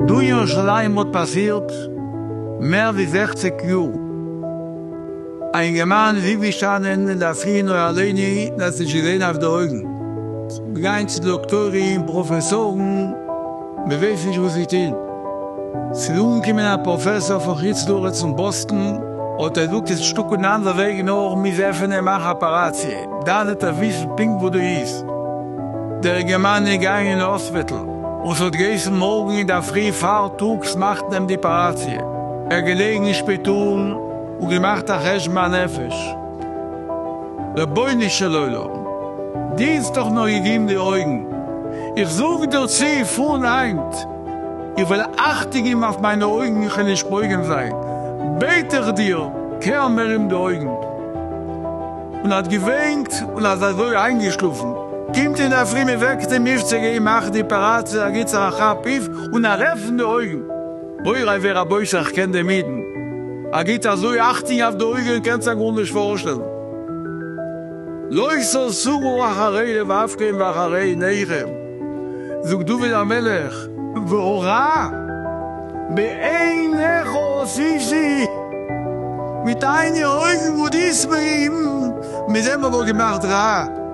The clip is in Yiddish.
דא אין ירושלים האט פאסירט מער ווי זעכציג יאר, א אינגערמאן איז אויפגעשטאנען אינדערפרי און האט אליין דאס נישט געזען אויף די אויגן, גיין צו דאקטוירים, פראפעסארן, מ'ווייס נישט וואס צו טוהן. ס'איז אנגעקומען א פראפעסאר פון חוץ לארץ פון באסטן, האט ער געזאגט עס איז שטאק אן אנדער וועג נאר מ'איז עפענען און מאכן אפאראציע, דאן וועט ער וויסן פונקט וואס דא איז. דער אינגערמאן איז געגאנגען אין האספיטל, און ס'האט געהייסן מארגן אינדערפרי פארטאגס מאכט מען די אפאראציע. ער איז געלעגן אין שפיטאל און געמאכט א חשבון הנפש. רבונו של עולם, דינסט דאך נאר אידין די אויגן, איך זאג דיר צו פון היינט, איך וועל אכטונג געבן אויף מיינע אויגן איך וועל נישט פוגם זיין, בעט איך דיר קער מער אים די אויגן. און האט געוויינט און אז אזוי איינגעשלאפן, קומט אינדערפרי מען וועקט אים אויף צו גיין מאכן די אפעראציע ער גיט זיך א כאפ אויף און ער עפענט די אויגן, מוריי ורבותי איך קען דעם אידן, ער גיט אזוי אכטונג אויף די אויגן קענסט זיך גארנישט פארשטעלן, לא תסורו אחרי לבבכם ואחרי עיניכם זאגט דוד המלך, והרע בעיניך עשיתי, מיט דיינע אויגן וואס דו זעסט מיר, מיט דעם האב איך געמאכט רע.